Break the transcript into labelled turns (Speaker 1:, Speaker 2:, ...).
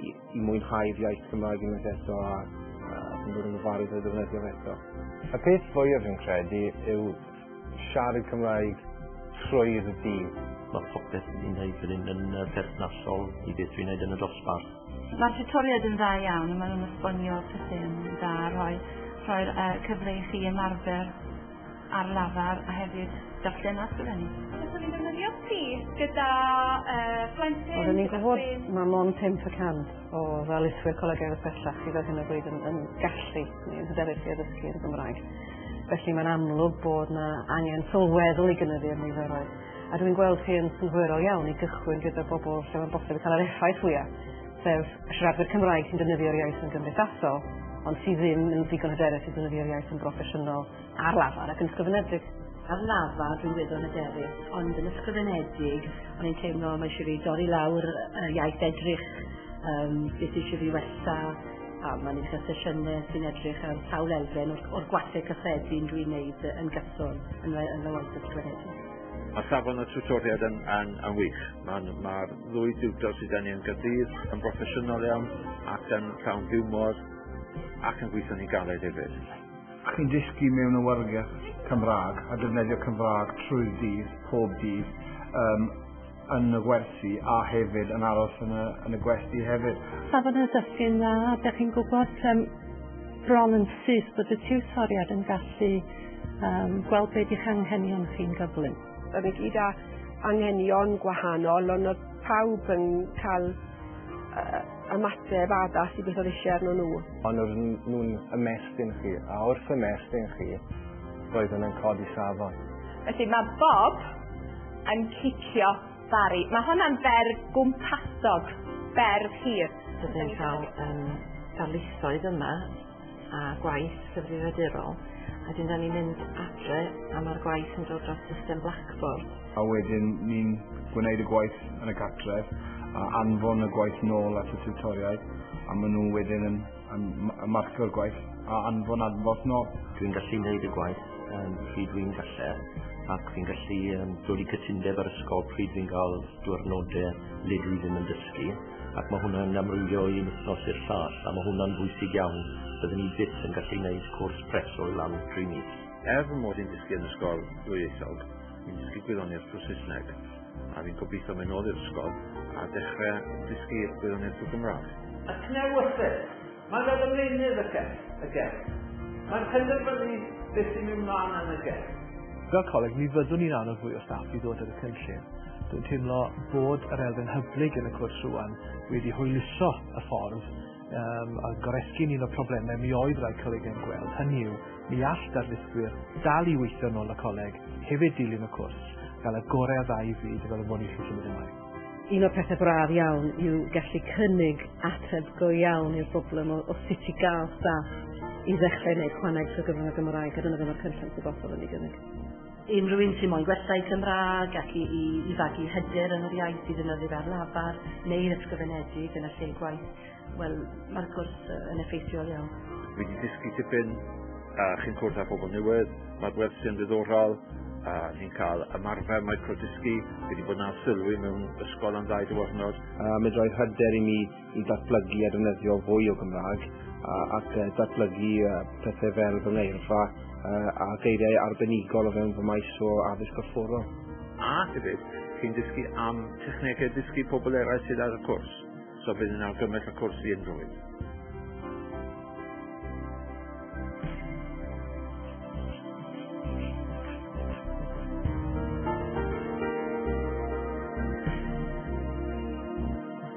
Speaker 1: i, i mwynhau'r iaith Gymraeg unwaith eto a, a sy'n bod yn ofalus o'i ddefnyddio fe eto. Y peth fwyaf fi'n credu yw siarad Cymraeg trwy'r dydd. Mae popeth
Speaker 2: ni'n gwneud fan hyn yn berthnasol i beth dwi'n gwneud yn y dosbarth. Mae'r tutoriaid
Speaker 3: yn dda iawn a maen nhw'n esbonio pethau'n dda, rhoi, rhoi'r uh, cyfle i chi ymarfer ar lafar a hefyd darllen a sgrifennu. Byddwn ni'n defnyddio
Speaker 4: ti gyda uh, plentyn... Oedden ni'n gwybod
Speaker 5: mae mon 5% o ddaliswyr Coleg Ewyr Pellach sydd ar hyn o bryd yn, yn gallu neu'n hyderus i addysgu yn Gymraeg. Felly mae'n amlwg bod yna angen sylweddol i gynyddu'r niferoedd. A dwi'n gweld chi yn synhwyrol iawn i gychwyn gyda bobl lle mae'n bosib cael yr effaith fwyaf sef y siaradwyr Cymraeg sy'n defnyddio'r iaith yn gymdeithasol, ond sydd ddim yn ddigon hyderus i ddefnyddio'r iaith yn broffesiynol ar lafar ac yn ysgrifenedig. Ar lafar
Speaker 6: dwi'n gweddol hyderus, ond yn ysgrifenedig, o'n i'n teimlo mae eisiau fi dorri lawr y iaith edrych, um, beth eisiau fi wella, a mae'n eich sesiynau sy'n edrych ar sawl elfen o'r, or gwasau cyffredin dwi'n neud yn gyson yn, yn y waith ysgrifenedig. Mae safon y
Speaker 7: tutoriad yn, yn, yn wych. Mae'r ma ddwy diwtor sydd gen i yn gydydd yn broffesiynol iawn ac yn llawn hiwmor ac yn gweithio'n ei galed hefyd. Chi'n dysgu
Speaker 8: mewn awyrgell Cymraeg a defnyddio Cymraeg trwy'r dydd, pob dydd. Um, yn y gwersi a hefyd yn aros yn y, yn y gwesty hefyd. Safon y dysgu'n
Speaker 9: dda, dych chi'n gwybod um, bron yn syth bod y tiwtoriad yn gallu um, gweld beth i'ch anghenion chi'n gyflym. Yr i gyd â
Speaker 10: anghenion gwahanol, ond oedd pawb yn cael uh, ymateb addas i beth oedd eisiau arno nhw. Ond oedd nhw'n
Speaker 1: ymestyn chi, a wrth ymestyn chi, roedd nhw'n codi safon. Felly mae
Speaker 4: Bob yn cicio Barry. Mae hwnna'n ferf gwmpasog, berf hir. Byddwn ni'n cael
Speaker 5: um, darlithoedd yma a gwaith cyfrifiadurol a dyn ni'n mynd adre a mae'r gwaith yn dod dros system Blackboard. A wedyn
Speaker 8: ni'n gwneud y gwaith yn y gartref a anfon y gwaith nôl at y tiwtoriaid a maen nhw wedyn yn Yn marcio'r gwaith a anfon adborth nôl. Dwi'n gallu wneud y
Speaker 2: gwaith um, pryd dwi'n gallu ac fi'n gallu um, dod i cytundeb ar ysgol pryd fi'n cael diwrnodau le dwi ddim yn dysgu ac mae hwnna'n amrywio i wythnos i'r llall a mae hwnna'n bwysig iawn. Byddwn ni byth yn gallu gwneud cwrs preswyl lan tri mis. Er fy mod i'n dysgu
Speaker 7: yn ysgol ddwyieithog, fi'n dysgu gwyddoniaeth drwy Saesneg. A fi'n gobeithio mynd nôl i'r ysgol a dechrau dysgu gwirionedd y Gymraeg. A cnewyllyn!
Speaker 11: Mae fel y meunydd y cell, y gell. Mae'n penderfynu beth sy'n mynd mlaen yn y gell. Fel coleg, mi
Speaker 12: fyddwn ni'n annog fwy o staff i ddod ar y cynllun. Dwi'n teimlo bod yr elfen hyblyg yn y cwrs rwan wedi hwyluso y ffordd um, a goresgyn un o problemau mi oedd rhai coleg yn gweld, hynny yw, mi all darlithwyr dal i weithio yn ôl y coleg, hefyd dilyn y cwrs, gael y gorau a dda i fyd fel y mwyn i chi symud ymlaen. Un o'r pethau
Speaker 5: braf iawn yw gallu cynnig ateb go iawn i'r broblem o, o sut i gael staff i ddechrau wneud chwaneg trwy gyfrwng y Gymraeg, a dyna ddim o'r cynllun sy'n bosol yn ei gynnig. Unrhyw un sy'n
Speaker 6: moyn gwella'i Cymraeg ac i, i, i fagu hyder yn yr iaith i ddynyddir ar lafar neu'r ysgrifenedig yn y lle gwaith, wel, mae'r cwrs yn effeithiol iawn. Wedi dysgu
Speaker 7: tipyn, a chi'n cwrdd â pobl newydd, mae'r wersiau'n ddiddorol, a ni'n cael ymarfer microdysgu, wedi bod na sylwi mewn ysgol am ddau diwrnod. A medrai hyder
Speaker 1: i mi i ddatblygu a defnyddio fwy o Gymraeg ac datblygu pethau fel fy ngeirfa a geiriau arbenigol o fewn fy maes o addysg gorfforol. A hefyd,
Speaker 7: chi'n dysgu am technegau dysgu pobl eraill sydd ar y cwrs, so bydd yn argymell y cwrs i unrhyw un.